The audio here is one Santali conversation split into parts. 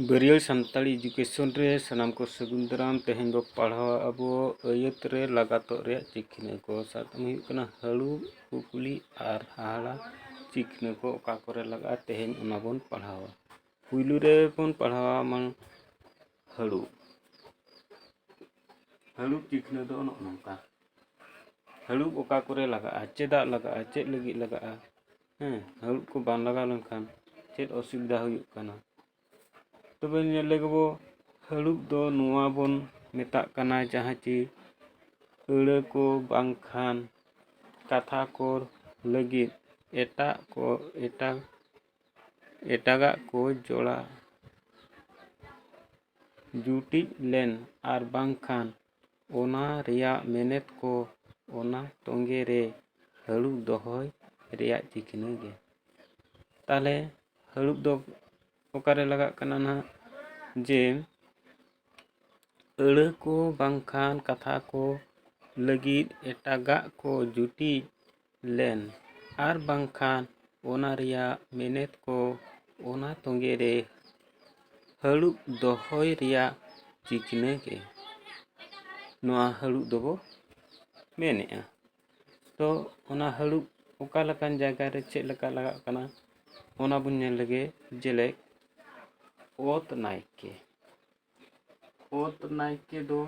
ᱵᱟᱹᱨᱭᱟᱹᱲ ᱥᱟᱱᱛᱟᱲᱤ ᱮᱰᱩᱠᱮᱥᱚᱱ ᱨᱮ ᱥᱟᱱᱟᱢ ᱠᱚ ᱥᱟᱹᱜᱩᱱ ᱫᱟᱨᱟᱢ ᱛᱮᱦᱮᱧ ᱵᱚ ᱯᱟᱲᱦᱟᱣ ᱟᱵᱚ ᱟᱹᱭᱟᱹᱛ ᱨᱮ ᱞᱟᱜᱟᱛᱚᱜ ᱨᱮᱭᱟᱜ ᱪᱤᱠᱷᱱᱟᱹ ᱠᱚ ᱥᱟᱵ ᱠᱟᱜ ᱢᱮ ᱦᱩᱭᱩᱜ ᱠᱟᱱᱟ ᱦᱟᱹᱲᱩ ᱠᱩᱠᱞᱤ ᱟᱨ ᱦᱟᱦᱟᱲᱟ ᱪᱤᱠᱷᱱᱟᱹ ᱠᱚ ᱚᱠᱟ ᱠᱚᱨᱮ ᱞᱟᱜᱟᱜᱼᱟ ᱛᱮᱦᱮᱧ ᱚᱱᱟ ᱵᱚᱱ ᱯᱟᱲᱦᱟᱣᱟ ᱯᱩᱭᱞᱩ ᱨᱮᱵᱚᱱ ᱯᱟᱲᱦᱟᱣᱟ ᱢᱟᱱᱮ ᱦᱟᱹᱲᱩ ᱦᱟᱹᱲᱩ ᱪᱤᱠᱷᱱᱟᱹ ᱫᱚ ᱱᱚᱜᱼᱚ ᱱᱚᱝᱠᱟ ᱦᱟᱹᱲᱩ ᱚᱠᱟ ᱠᱚᱨᱮ ᱞᱟᱜᱟᱜᱼᱟ ᱪᱮᱫᱟᱜ ᱞᱟᱜᱟᱜᱼᱟ ᱪᱮᱫ ᱞᱟᱹᱜᱤᱫ ᱞᱟᱜᱟᱜᱼᱟ ᱦᱮᱸ ᱦᱟᱹᱲᱩ ᱠᱚ ᱵᱟᱝ ᱞᱟᱜᱟᱣ ᱞᱮᱱᱠᱷᱟᱱ ᱪᱮᱫ ᱚᱥᱩᱵᱤᱫᱟ ᱦᱩᱭᱩᱜ ᱠᱟᱱᱟ ᱛᱚᱵᱮ ᱧᱮᱞ ᱞᱮᱜᱮ ᱵᱚ ᱦᱟᱹᱲᱩ ᱫᱚ ᱱᱚᱣᱟ ᱵᱚᱱ ᱢᱮᱛᱟᱜ ᱠᱟᱱᱟ ᱡᱟᱦᱟᱸ ᱪᱮ ᱟᱹᱲᱟᱹ ᱠᱚ ᱵᱟᱝᱠᱷᱟᱱ ᱠᱟᱛᱷᱟ ᱠᱚ ᱞᱟᱹᱜᱤᱫ ᱮᱴᱟᱜ ᱠᱚ ᱮᱴᱟᱜ ᱮᱴᱟᱜᱟᱜ ᱠᱚ ᱡᱚᱲᱟ ᱡᱩᱴᱤᱡ ᱞᱮᱱ ᱟᱨ ᱵᱟᱝᱠᱷᱟᱱ ᱚᱱᱟ ᱨᱮᱭᱟᱜ ᱢᱮᱱᱮᱛ ᱠᱚ ᱚᱱᱟ ᱛᱚᱸᱜᱮ ᱨᱮ ᱦᱟᱹᱲᱩᱵ ᱫᱚᱦᱚᱭ ᱨᱮᱭᱟᱜ ᱪᱤᱠᱷᱱᱟᱹ ᱜᱮ ᱛᱟᱦᱚᱞᱮ ᱦᱟᱹᱲᱩᱵ ᱫᱚ ᱚᱠᱟᱨᱮ ᱞᱟᱜᱟᱜ ᱠᱟᱱᱟ ᱱᱟᱜ ᱡᱮ ᱟᱹᱲᱟᱹ ᱠᱚ ᱵᱟᱝᱠᱷᱟᱱ ᱠᱟᱛᱷᱟ ᱠᱚ ᱞᱟᱹᱜᱤᱫ ᱮᱴᱟᱜᱟᱜ ᱠᱚ ᱡᱩᱴᱤᱡ ᱞᱮᱱ ᱟᱨ ᱵᱟᱝᱠᱷᱟᱱ ᱚᱱᱟ ᱨᱮᱭᱟᱜ ᱢᱮᱱᱮᱛ ᱠᱚ ᱚᱱᱟ ᱛᱚᱸᱜᱮ ᱨᱮ ᱦᱟᱹᱲᱩᱵ ᱫᱚᱦᱚᱭ ᱨᱮᱭᱟᱜ ᱪᱤᱠᱱᱟᱹ ᱜᱮ ᱱᱚᱣᱟ ᱦᱟᱹᱲᱩᱵ ᱫᱚᱵᱚ ᱢᱮᱱᱮᱜᱼᱟ ᱛᱚ ᱚᱱᱟ ᱦᱟᱹᱲᱩᱵ ᱚᱠᱟ ᱞᱮᱠᱟᱱ ᱡᱟᱭᱜᱟ ᱨᱮ ᱪᱮᱫ ᱞᱮᱠᱟ ᱞᱟᱜᱟᱜ ᱠᱟᱱᱟ ᱚᱱᱟ ᱵᱚᱱ ᱧᱮᱞ ᱞᱮᱜᱮ ᱡᱮᱞᱮᱠ ᱚᱛ ᱱᱟᱭᱠᱮ ᱚᱛ ᱱᱟᱭᱠᱮ ᱫᱚ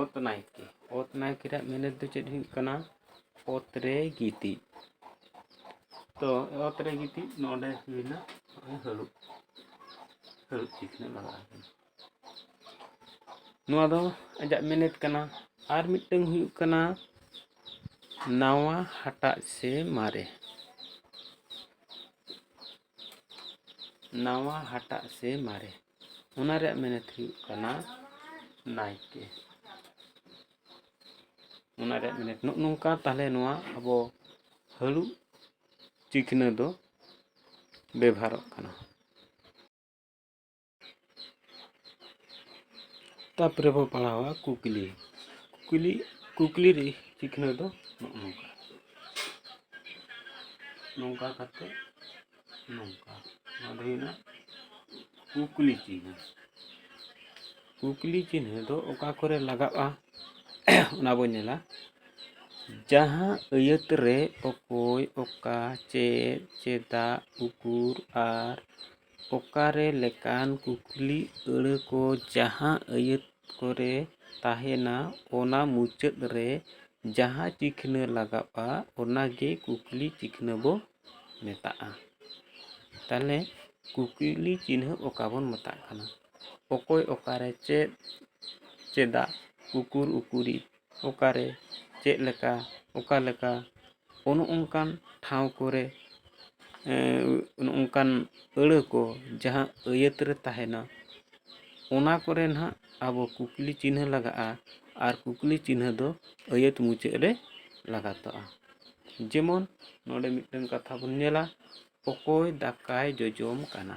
ᱚᱛ ᱱᱟᱭᱠᱮ ᱚᱛ ᱱᱟᱭᱠᱮ ᱨᱮᱭᱟᱜ ᱢᱮᱱᱮᱛ ᱫᱚ ᱪᱮᱫ ᱦᱩᱭᱩᱜ ᱠᱟᱱᱟ ᱚᱛ ᱨᱮ ᱜᱤᱛᱤᱡ ᱛᱚ ᱚᱛ ᱨᱮ ᱜᱤᱛᱤᱡ ᱱᱚᱰᱮ ᱦᱩᱭᱱᱟ ᱱᱚᱜᱼᱚᱭ ᱦᱟᱹᱨᱩᱵ ᱦᱟᱹᱨᱩᱵ ᱪᱤᱠᱷᱱᱟᱹ ᱞᱟᱜᱟᱜᱼᱟ ᱱᱚᱣᱟ ᱫᱚ ᱟᱡᱟᱜ ᱢᱮᱱᱮᱛ ᱠᱟᱱᱟ ᱟᱨ ᱢᱤᱫᱴᱟᱝ ᱦᱩᱭᱩᱜ ᱠᱟᱱᱟ ᱱᱟᱣᱟ ᱦᱟᱴᱟᱜ ᱥᱮ ᱢᱟᱨᱮ ᱱᱟᱣᱟ ᱦᱟᱴᱟᱜ ᱥᱮ ᱢᱟᱨᱮ ᱚᱱᱟ ᱨᱮᱭᱟᱜ ᱢᱮᱱᱮᱛ ᱦᱩᱭᱩᱜ ᱠᱟᱱᱟ ᱱᱟᱭᱠᱮ ᱚᱱᱟ ᱨᱮᱭᱟᱜ ᱢᱮᱱᱮᱛ ᱱᱚᱜᱼᱚ ᱱᱚᱝᱠᱟ ᱛᱟᱦᱚᱞᱮ ᱱᱚᱣᱟ ᱟᱵᱚ ᱦᱟᱹᱲᱩᱵ ᱪᱤᱠᱷᱱᱟᱹ ᱫᱚ ᱵᱮᱵᱷᱟᱨᱚᱜ ᱠᱟᱱᱟ ᱛᱟᱯᱚᱨᱮ ᱵᱚ ᱯᱟᱲᱦᱟᱣᱟ ᱠᱩᱠᱞᱤ ᱠᱩᱠᱞᱤ ᱠᱩᱠᱞᱤ ᱨᱮ ᱪᱤᱠᱱᱟᱹ ᱫᱚ ᱱᱚᱜᱼᱚ ᱱᱚᱝᱠᱟ ᱱᱚᱝᱠᱟ ᱠᱟᱛᱮ ᱱᱚᱝᱠᱟ ᱱᱚᱣᱟ ᱫᱚ ᱦᱩᱭᱱᱟ ᱠᱩᱠᱞᱤ ᱪᱤᱱᱦᱟᱹ ᱠᱩᱠᱞᱤ ᱪᱤᱱᱦᱟᱹ ᱫᱚ ᱚᱠᱟ ᱠᱚᱨᱮ ᱞᱟᱜᱟᱜᱼᱟ ᱚᱱᱟ ᱵᱚᱱ ᱧᱮᱞᱟ ᱡᱟᱦᱟᱸ ᱟᱹᱭᱟᱹᱛ ᱨᱮ ᱚᱠᱚᱭ ᱚᱠᱟ ᱪᱮᱫ ᱪᱮᱫᱟᱜ ᱩᱠᱩᱨ ᱟᱨ ᱚᱠᱟᱨᱮ ᱞᱮᱠᱟᱱ ᱠᱩᱠᱞᱤ ᱟᱹᱲᱟᱹ ᱠᱚ ᱡᱟᱦᱟᱸ ᱟᱹᱭᱟᱹᱛ ᱠᱚᱨᱮ ᱛᱟᱦᱮᱱᱟ ᱚᱱᱟ ᱢᱩᱪᱟᱹᱫ ᱨᱮ ᱡᱟᱦᱟᱸ ᱪᱤᱠᱷᱱᱟᱹ ᱞᱟᱜᱟᱜᱼᱟ ᱚᱱᱟᱜᱮ ᱠᱩᱠᱞᱤ ᱪᱤᱠᱷᱱᱟᱹ ᱵᱚ ᱢᱮᱛᱟᱜᱼᱟ ᱛᱟᱦᱚᱞᱮ ᱠᱩᱠᱞᱤ ᱪᱤᱱᱦᱟᱹ ᱚᱠᱟ ᱵᱚᱱ ᱢᱮᱛᱟᱜ ᱠᱟᱱᱟ ᱚᱠᱚᱭ ᱚᱠᱟᱨᱮ ᱪᱮᱫ ᱪᱮᱫᱟᱜ ᱩᱠᱩᱨ ᱩᱠᱩᱨᱤᱡ ᱚᱠᱟᱨᱮ ᱪᱮᱫ ᱞᱮᱠᱟ ᱚᱠᱟ ᱞᱮᱠᱟ ᱚᱱᱮ ᱚᱱᱠᱟᱱ ᱴᱷᱟᱶ ᱠᱚᱨᱮ ᱚᱱᱮ ᱚᱱᱠᱟᱱ ᱟᱹᱲᱟᱹ ᱠᱚ ᱡᱟᱦᱟᱸ ᱟᱹᱭᱟᱹᱛ ᱨᱮ ᱛᱟᱦᱮᱱᱟ ᱚᱱᱟ ᱠᱚᱨᱮ ᱱᱟᱦᱟᱜ ᱟᱵᱚ ᱠᱩᱠᱞᱤ ᱪᱤᱱᱦᱟᱹ ᱞᱟᱜᱟᱜᱼᱟ ᱟᱨ ᱠᱩᱠᱞᱤ ᱪᱤᱱᱦᱟᱹ ᱫᱚ ᱟᱹᱭᱟᱹᱛ ᱢᱩᱪᱟᱹᱫ ᱨᱮ ᱞᱟᱜᱟᱛᱚᱜᱼᱟ ᱡᱮᱢᱚᱱ ᱱᱚᱰᱮ ᱢᱤᱫᱴᱟᱱ ᱠᱟᱛᱷᱟ ᱵᱚᱱ ᱧᱮᱞᱟ ᱚᱠᱚᱭ ᱫᱟᱠᱟᱭ ᱡᱚᱡᱚᱢ ᱠᱟᱱᱟ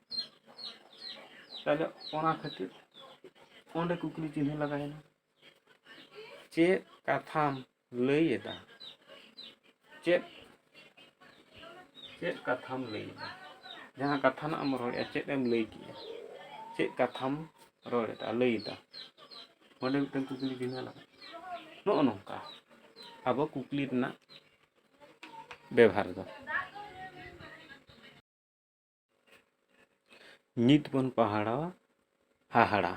ᱛᱟᱦᱚᱞᱮ ᱚᱱᱟ ᱠᱷᱟᱹᱛᱤᱨ ᱚᱸᱰᱮ ᱠᱩᱠᱞᱤ ᱪᱤᱱᱦᱟᱹ ᱞᱟᱜᱟᱭᱮᱱᱟ ᱪᱮᱫ ᱠᱟᱛᱷᱟᱢ ᱞᱟᱹᱭᱮᱫᱟ ᱪᱮᱫ ᱪᱮᱫ ᱠᱟᱛᱷᱟᱢ ᱞᱟᱹᱭᱮᱫᱟ ᱡᱟᱦᱟᱸ ᱠᱟᱛᱷᱟ ᱱᱟᱜ ᱮᱢ ᱨᱚᱲᱮᱫᱼᱟ ᱪᱮᱫ ᱮᱢ ᱞᱟᱹᱭ ᱠᱮᱫᱼᱟ ᱪᱮᱫ ᱠᱟᱛᱷᱟᱢ ᱨᱚᱲᱮᱫᱟ ᱞᱟᱹᱭᱮᱫᱟ ᱚᱸᱰᱮ ᱢᱤᱫᱴᱟᱝ ᱠᱩᱠᱞᱤ ᱪᱤᱱᱦᱟᱹ ᱞᱟᱜᱟᱜᱼᱟ ᱱᱚᱜᱼᱚ ᱱᱚᱝᱠᱟ ᱟᱵᱚ ᱠᱩᱠᱞᱤ ᱨᱮᱱᱟᱜ ᱵᱮᱵᱷᱟᱨ ᱫᱚ ᱱᱤᱛ ᱵᱚᱱ ᱯᱟᱦᱟᱲᱟᱣᱟ ᱦᱟᱦᱟᱲᱟ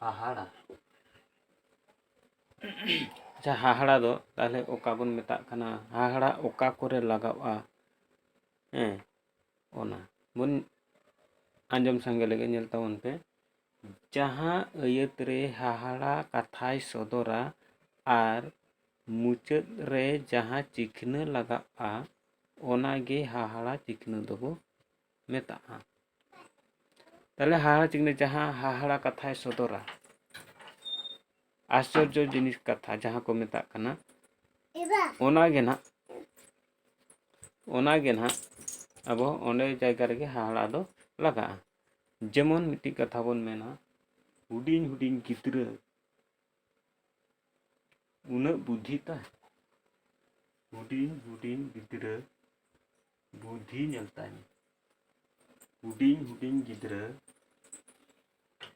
ᱦᱟᱦᱟᱲᱟ ᱟᱪᱪᱷᱟ ᱦᱟᱦᱟᱲᱟ ᱫᱚ ᱛᱟᱦᱚᱞᱮ ᱚᱠᱟ ᱵᱚᱱ ᱢᱮᱛᱟᱜ ᱠᱟᱱᱟ ᱦᱟᱦᱟᱲᱟ ᱚᱠᱟ ᱠᱚᱨᱮ ᱞᱟᱜᱟᱜᱼᱟ ᱦᱮᱸ ᱚᱱᱟ ᱵᱚᱱ ᱟᱸᱡᱚᱢ ᱥᱟᱸᱜᱮ ᱞᱮᱜᱮ ᱧᱮᱞ ᱛᱟᱵᱚᱱ ᱯᱮ ᱡᱟᱦᱟᱸ ᱟᱹᱭᱟᱹᱛ ᱨᱮ ᱦᱟᱦᱟᱲᱟ ᱠᱟᱛᱷᱟᱭ ᱥᱚᱫᱚᱨᱟ ᱟᱨ ᱢᱩᱪᱟᱹᱫ ᱨᱮ ᱡᱟᱦᱟᱸ ᱪᱤᱠᱷᱱᱟᱹ ᱞᱟᱜᱟᱜᱼᱟ ᱚᱱᱟ ᱜᱮ ᱦᱟᱦᱟᱲᱟ ᱪᱤᱠᱷᱱᱟᱹ ᱫᱚᱵᱚ ᱢᱮᱛᱟᱜᱼᱟ ᱛᱟᱦᱚᱞᱮ ᱦᱟᱦᱟᱲᱟ ᱪᱤᱠᱷᱱᱟᱹ ᱡᱟᱦᱟᱸ ᱦᱟᱦᱟᱲᱟ ᱠᱟᱛᱷᱟᱭ ᱥᱚᱫᱚᱨᱟ ᱟᱥᱪᱚᱨᱡᱚ ᱡᱤᱱᱤᱥ ᱠᱟᱛᱷᱟ ᱡᱟᱦᱟᱸ ᱠᱚ ᱢᱮᱛᱟᱜ ᱠᱟᱱᱟ ᱚᱱᱟ ᱜᱮ ᱱᱟᱦᱟᱜ ᱚᱱᱟ ᱜᱮ ᱱᱟᱦᱟᱜ ᱟᱵᱚ ᱚᱸᱰᱮ ᱡᱟᱭᱜᱟ ᱨᱮᱜᱮ ᱦᱟᱦᱟᱲᱟ ᱫᱚ ᱞᱟᱜᱟᱜᱼᱟ ᱡᱮᱢᱚᱱ ᱢᱤᱫᱴᱤᱡ ᱠᱟᱛᱷᱟ ᱵᱚᱱ ᱢᱮᱱᱟ ᱦᱩᱰᱤᱧ ᱦᱩᱰᱤᱧ ᱜᱤᱫᱽᱨᱟᱹ ᱩᱱᱟᱹᱜ ᱵᱩᱫᱷᱤ ᱛᱟᱭ ᱦᱩᱰᱤᱧ ᱦᱩᱰᱤᱧ ᱜᱤᱫᱽᱨᱟᱹ ᱵᱩᱫᱷᱤ ᱧᱮᱞ ᱛᱟᱭ ᱢᱮ ᱦᱩᱰᱤᱧ ᱦᱩᱰᱤᱧ ᱜᱤᱫᱽᱨᱟᱹ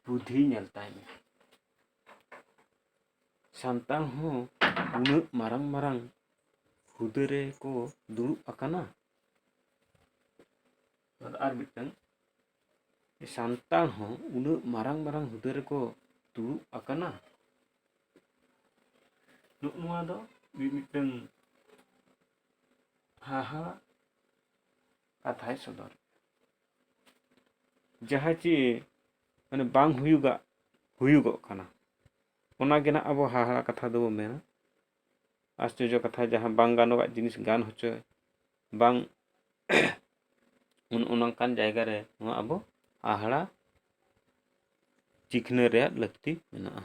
ᱵᱩᱫᱷᱤ ᱧᱮᱞ ᱛᱟᱭ ᱢᱮ ᱥᱟᱱᱛᱟᱲ ᱦᱚᱸ ᱩᱱᱟᱹᱜ ᱢᱟᱨᱟᱝ ᱢᱟᱨᱟᱝ ᱦᱩᱫᱟᱹ ᱨᱮᱠᱚ ᱫᱩᱲᱩᱵ ᱟᱠᱟᱱᱟ ᱟᱨ ᱟᱨ ᱢᱤᱫᱴᱟᱝ ᱥᱟᱱᱛᱟᱲ ᱦᱚᱸ ᱩᱱᱟᱹᱜ ᱢᱟᱨᱟᱝ ᱢᱟᱨᱟᱝ ᱦᱩᱫᱟᱹ ᱨᱮᱠᱚ ᱫᱩᱲᱩᱵ ᱟᱠᱟᱱᱟ ᱱᱚᱜ ᱱᱚᱣᱟ ᱫᱚ ᱢᱤᱫ ᱢᱤᱫᱴᱟᱝ ᱦᱟᱦᱟ ᱠᱟᱛᱷᱟᱭ ᱥᱚᱫᱚᱨ ᱡᱟᱦᱟᱸ ᱪᱮ ᱢᱟᱱᱮ ᱵᱟᱝ ᱦᱩᱭᱩᱜᱟᱜ ᱦᱩᱭᱩᱜᱚᱜ ᱠᱟᱱᱟ ᱚᱱᱟᱜᱮ ᱱᱟᱜ ᱟᱵᱚ ᱦᱟᱦᱟᱲᱟ ᱠᱟᱛᱷᱟ ᱫᱚᱵᱚ ᱢᱮᱱᱟ ᱟᱥᱪᱚᱨᱡᱚ ᱠᱟᱛᱷᱟ ᱡᱟᱦᱟᱸ ᱵᱟᱝ ᱜᱟᱱᱚᱜᱟᱜ ᱡᱤᱱᱤᱥ ᱜᱟᱱ ᱦᱚᱪᱚ ᱵᱟᱝ ᱚᱱ ᱚᱱᱠᱟᱱ ᱡᱟᱭᱜᱟ ᱨᱮ ᱱᱚᱣᱟ ᱟᱵᱚ ᱦᱟᱦᱟᱲᱟ ᱪᱤᱠᱷᱱᱟᱹ ᱨᱮᱭᱟᱜ ᱞᱟᱹᱠᱛᱤ ᱢᱮᱱᱟᱜᱼᱟ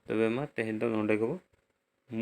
ᱛᱚᱵᱮ ᱢᱟ ᱛᱮᱦᱮᱧ ᱫᱚ ᱱᱚᱰᱮ ᱜᱮᱵᱚ ᱢᱩᱪᱟᱹᱫ